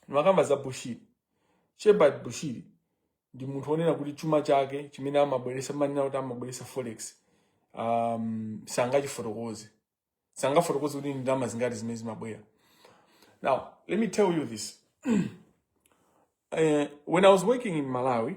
ndimakamba za bushiri shepherd bushiri ndi munthu onena kuti chuma chake chimene amabweresa mmanena kuti amabweresa forex um, sangachifotokoze sangafotokoze kuti ndi ndalama zingati zimene zimabwera now let me tell you this uh, when i was working in malawi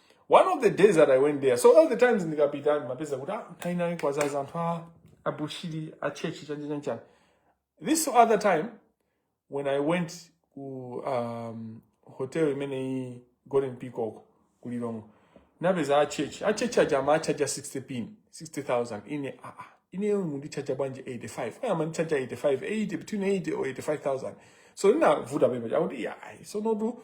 one of the days that i went there so all the times ndikapita ndimapeza kuti ah kaya inali kwazaza anthu a abushiri a church chani chanchani this other time when i went ku um, hotel imeneyi golden peacock ku lilongwe napeza a church a church aja amachaja 60 pin 60000 ine aa ineyo mundichaja bwanji 85 kaya mandichaja 85 80 between 80 or 85000 so ndinafunsa pepa chakuti ayi so notu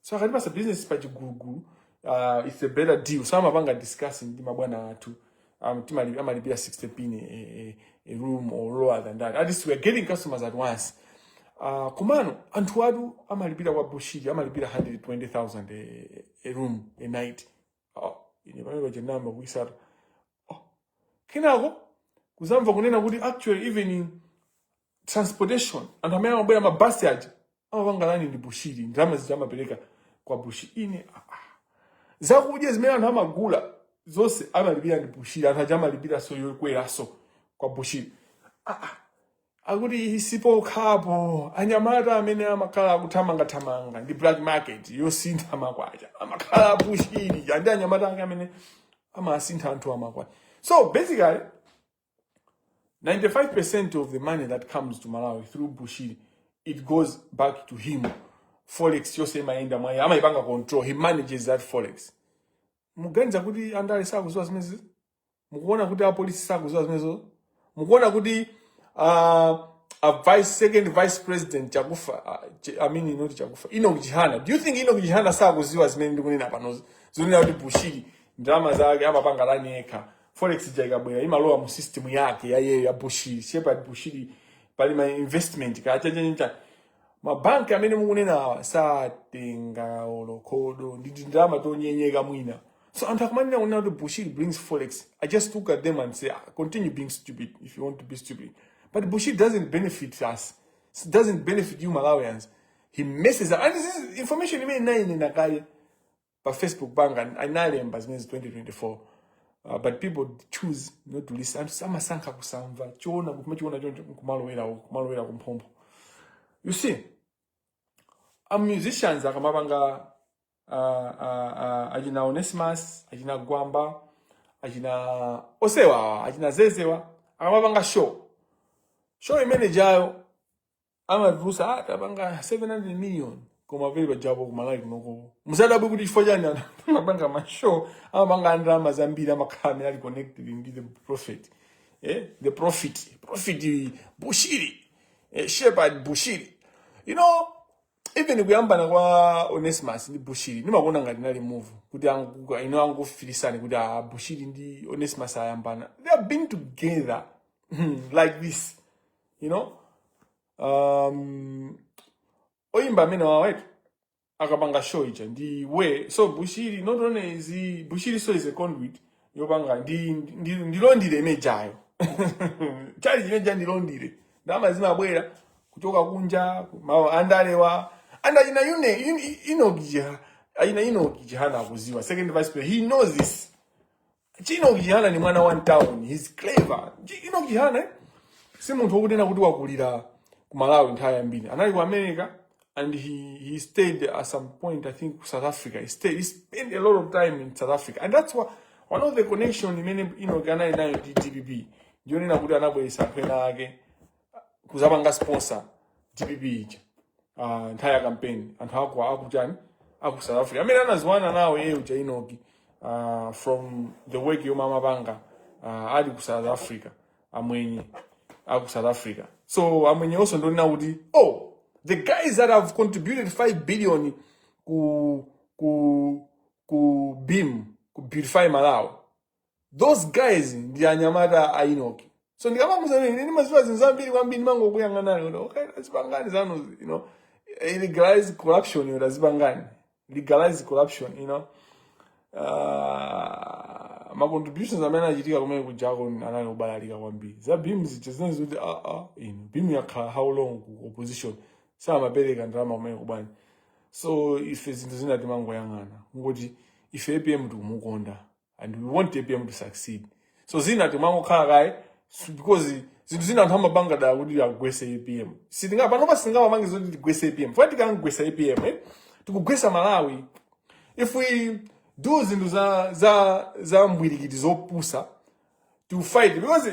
so akatipasa business pa chigulugulu uh, it's a better deal so amapanga discuss ndi mabwana athu um, timali- amalipira 60 pin a, a, a room or lower than that at least we are getting customers at once uh, komano anthu athu amalipira kwa bushiri amalipira 120000 a, a room a night oh, ine pamene nayamba kuisata oh. kenako kuzamva kunena kuti actually even transportation anthu amene amabwera mabasi aja amapanga run ndi bushiri ndalama zija amapereka kwa bushiri ine ah, ah. zakudya zimene anthu amagula zonse amalipira ndi bushiri anthu aja amalipiranso yokweraso kwa bushiri ah, ah. akuti sipokhapo anyamata amene amakhala akuthamangathamanga ndi black market yosintha makwacha amakhala a bushiri ndi anyamata ake amene amasintha anthu amakwacha so basically 95% of the money that comes to Malawi through Bushiri, it goes back to him. Forex yose imayenda mwa iye amaipanga control. He manages that forex. Mukuganiza kuti andale sakuziwa zimenezo? Mukuona kuti apolisi sakuziwa zimenezo? Mukuona kuti uh, a vice second vice president chakufa uh, ch I mean not chakufa Enoch Chihana. Do you think Enoch Chihana sakuziwa zimene ndikunena panozi? Zonena kuti Bushiri ndalama zake amapanga run yekha. forex ija ikabwera imalowa mu system yake ya iyeyo ya bushiri shepherd bushiri pali ma investment kaya chanchani mabanki amene mukunena awa satenga olo khodo ndi tindalama tonyenyeka mwina so anthu akumanena kunena kuti bushiri brings forex i just look at them and say "Ah, continue being stupid if you want to be stupid but bushiri doesn't benefit us It doesn't benefit you malawians he messes up and this is information imene Nayne Nakale pa facebook pake analemba zimenezi 2024 uh, but people choose not to listen anthu amasankha kusamva choona kumachiona choncho kumalowera uko, kumalowera kumphompho you see a musicians akamapanga uh, uh, uh, achina onesimus achina gwamba achina osewa achina zezewa akamapanga show show imenejayo amatilusa ah, tapanga 700 million koma pele pajapo ku Malawi kunoko musadabwe kuti chifukwa chani anthu amapanga mashow amapanga ndalama zambiri amakhala amene ali connected ndi the prophet eh? the prophet prophet bushiri eh, shepherd bushiri you know even kuyambana kwa onesimus ndi bushiri ndimakuona ngati inali move kuti angu- ino angofilisani kuti ah, bushiri ndi onesimus ayambana they have been together like this you know um, oyimba amene wawetu akapanga show ija ndi iwe so bushiri not only is he, bushiri so is a conduit yopanga ndi ndi ndi laundry imene ijayo tchalitchi chimene chija ndi laundry ndalama zimabwera kuchoka kunja ma andalewa and ayina yune yin- Enoch Chi ayina Enoch Chihana akuziwa second vice president he knows this Chi Enoch Chihana ndi mwana wa town. He's clever. Enoch Chihana eh? si munthu wokunena kuti wakulira ku Malawi nthawi yambiri. Anali ku America and he, he stayed at some point I think South Africa. He stayed he spent a lot of time in South Africa. And that's why one of the connection imene Enoch anali nayo ndi DPP. Ndiyonena kuti anabweretsa anthu ena ake kuzapanga sponsor dpp ija ah, nthawi ya kampeni anthu aku akujani aku south africa amene anaziwana nawo iye uja enoch ah, from the work yomwe amapanga ah, ali ku south africa amwenye aku south africa so amwenye onso ndionena kuti oh the guys that have contributed 5 billion ku ku ku beam ku beautify malawi those guys ndi anyamata a enoch so ndikamakuuzani kuti ndimaziwa zinthu zambiri kwambiri ndimangokuyang'anani kuti okay tazipangani zanu you know eh, legalize corruption yo tazipangani legalize corruption you know Ah, ma contributions amene achitika kumene kujako anali obalalika kwambiri za beam zija zinali zoti ah, ah, ino beam yakhala how long ku opposition samapereka ndalama kumene kuja so ife zinthu zina timangoyang'ana kuti ife apm tikumukonda and we want apm to succeed so zina timangokhala kaye s- because zinthu zina anthu amapanga dala kuti amugwese apm sitinga panopa sitingamapange zoti tigwese apm chifukwa tikamugwesa apm eh? tikugwesa malawi if we do zinthu za za za mbwerekete zopusa to fight because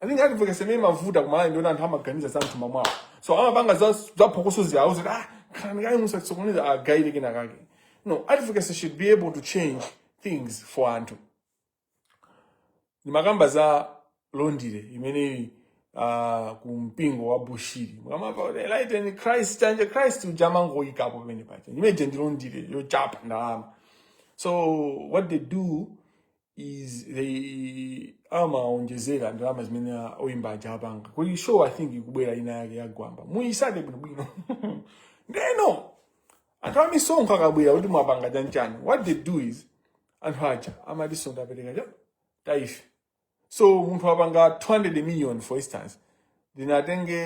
I think advocacy imene imavuta ku Malawi ndi yoti anthu amaganiza za mtima mwawo so amapanga za za phokoso zawo zoti ah khalani kaye muzasokoneza agayire kena kake no advocacy should be able to change things for anthu ndimakamba za laundry imene ili uh, ku mpingo wa bushiri mukamava kuti enlighten christ anje christ uja amangoyikapo pamene paja imene ija ndi laundry yochapa ndalama so what they do is they amaonjezera ndalama zimene a- oyimba aja apanga kuli show i think ikubwera ina yake yagwamba muyisake bwinobwino ndeno anthu amisonkho akabwera kuti mwapanga chanchani what they do is anthu aja amatinso ndapereka tithe so munthu apanga 200 million for instance ndiye atenge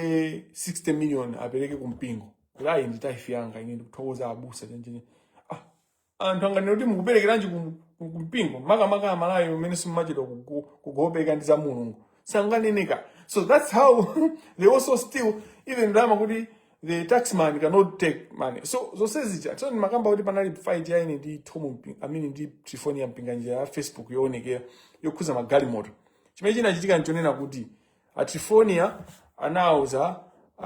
60 million apereke kumpingo kuti ayi ndi tithe yanga ine ndikuthokoza abusa chanchani ah anthu anganene kuti mukuperekeranji ku- ku- ku mpingo makamaka aMalawi umene simumachedwa kugo- kugopereka ndi za mulungu sanganene kanthu so that's how they also steal even ndalama kuti the taxman cannot take money so zonse zija so ndimakamba kuti panali fight ya ine ndi tom Mpi- amene ndi trifoniya mpinganjira ya facebook yoonekera yokhuza magalimoto chimene chinachitika nchonena kuti a trifonia anauza uh,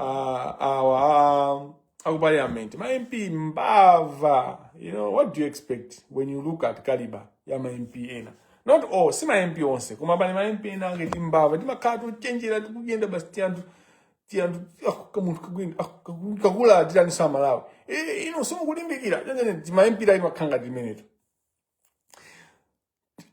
awa a- aku parliament ma mp mbava you know what do you expect when you look at caliber ya ma mp ena not all si ma mp onse koma pali ma mp ena angati timbava timakhala tochenjera tikuyenda basi tianthu tianthu ah, kamunthu kakwini ah, kaku- kukula tiraninso amalawi Eh, ino simukulimbikira tima mp timakhala ngati timeneto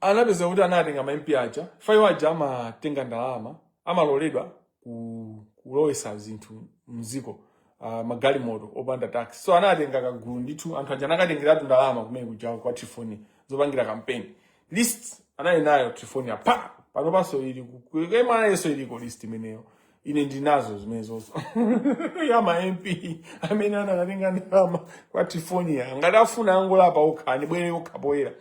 anapeza kuti anatenga ma MP aja fayo aja amatenga ndalama amaloledwa ku- kulowesa zinthu mziko uh, magalimoto opanda tax so anatenga kagulu ndithu anthu aja anakatengeratu ndalama kumene kuja kwa trifoni zopangira kampeni list anali nayo trifoni panopanso ili ku MRA yonso iliko list imeneyo ine ndinazo zimenezozo ya ma mp amene anakatenga ndalama kwa trifonia ngati afuna angolapa okha abwere okha poyera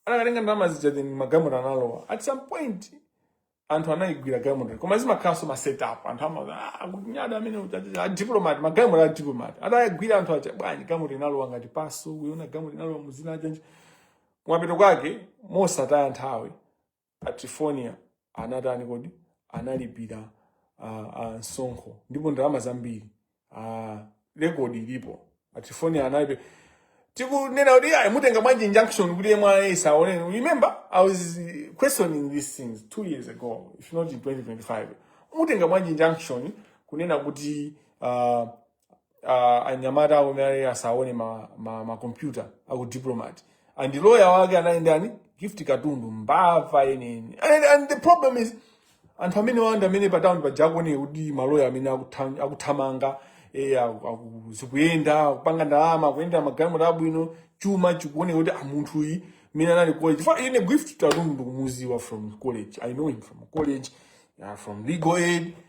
anakatenga ndalama zija then magalimoto analowa at some point anthu anayigwira galimoto koma zimakhalanso ma setup anthu amakuchinda amene uchacha- a diplomat magalimoto a diplomat atayagwira anthu acha bwanji galimoto inalowa ngati paso uyiona galimoto inalowa muzina chanichani kumapeto kwake mosataya nthawi a Trifonia anatani kodi analipira uh, uh, msonkho ndipo ndalama zambiri uh, rekodi ilipo a Trifonia analipira tikunena kuti ayi mutenga bwanji injunction kuti MRA isaone remember i was uh, questioning these things two years ago if not in 2025 mutenga bwanji injunction kunena kuti uh, uh, anyamata awo amene asaone ma, ma, ma computer aku diplomat and lawyer wake anali ndani gift katundu mbava yeniyeni and, and the problem is anthu amene wamba amene pa town paja akuona kuti maloya amene akutha- akuthamanga eh, aku- aku- zikuyenda akupanga ndalama akuyenda magalimoto abwino chuma chikuoneka kuti munthu uyu mene anali college chifukwa ine gift katundu ndikumuziwa from college i know him from college uh, from legal aid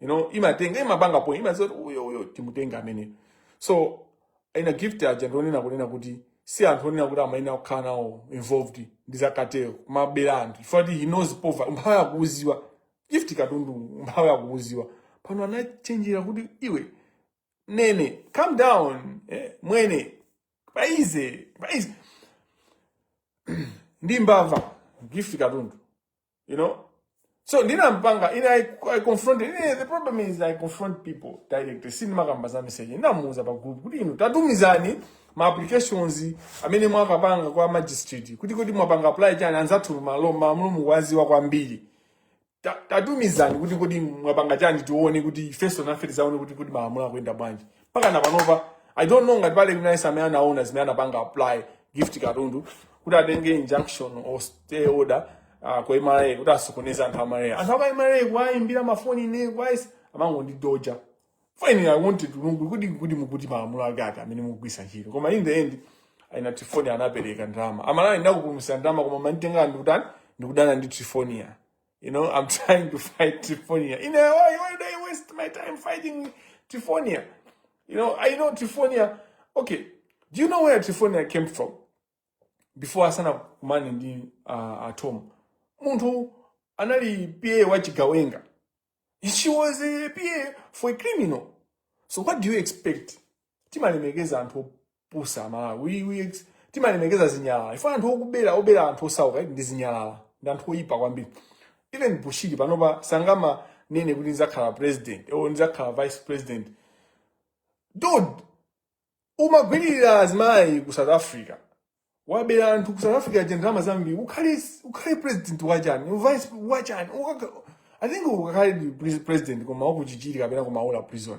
you know imatenga imapanga point imaziwa kuti uyu uyu timutenga amene so ina gift aja ndionena kunena kuti si anthu onena kuti amayenera kukhala nawo involved ndi zakatero kumabera anthu chifukwa akuti he knows poverty umphawi akuuziwa gift katundu umphawi akuuziwa pano anachenjera kuti iwe nene calm down eh, mwene paize paize ndi mbava gift katundu you know so ndinampanga ine I, I confronted ine the problem is I confront people direct sindimakamba za message ndinamuuza pa group kuti inu tatumizani ma applications amene mwakapanga kwa magistrate kuti kodi mwapanga apply chani anzathu malamulo mukuwaziwa kwambiri Ta- tatumizani kuti kodi mwapanga chani tione kuti ifeso nafe tizaone kuti kodi malamulo akuyenda bwanji mpaka na panopa i don't know ngati pali kuno yense amene anaona zimene anapanga apply gift katundu kuti atenge injunction or stay order uh, kwa mra kuti asokoneze anthu a mra anthu aka mra kuwayimbira mafoni ine kwake amangondidoja fine i wanted to know kuti kodi mukuti malamulo ake ati amene mukugwisa ntchito koma in the end aina trifonia anapereka ndalama amalawi ndakupulumusani ndalama koma munanditenga ndikutani ndikudana ndi trifonia You know, I'm trying to fight Trifonia. You know, why, why do I waste my time fighting Trifonia? You know, I know Trifonia. Okay, do you know where Trifonia came from? Before Asana man in the uh, at home. Muntu anali PA wachigawenga. She was a PA for a criminal. So what do you expect? Timalemekeza anthu pusa amalawi we, we, timalemekeza zinyalala ife anthu okubera obera anthu osauka eti ndi zinyalala ndi anthu oyipa kwambiri even bushiri panopa sangama nene kuti nizakhala president or nizakhala vice president dude umagwirira azimayi ku south africa wabera anthu ku south africa aja ndalama zambiri ukhale ukhale president wachani vice wachani Ukaka- i think ukakhale pre- president koma wakuchichiri kapena kumaula prison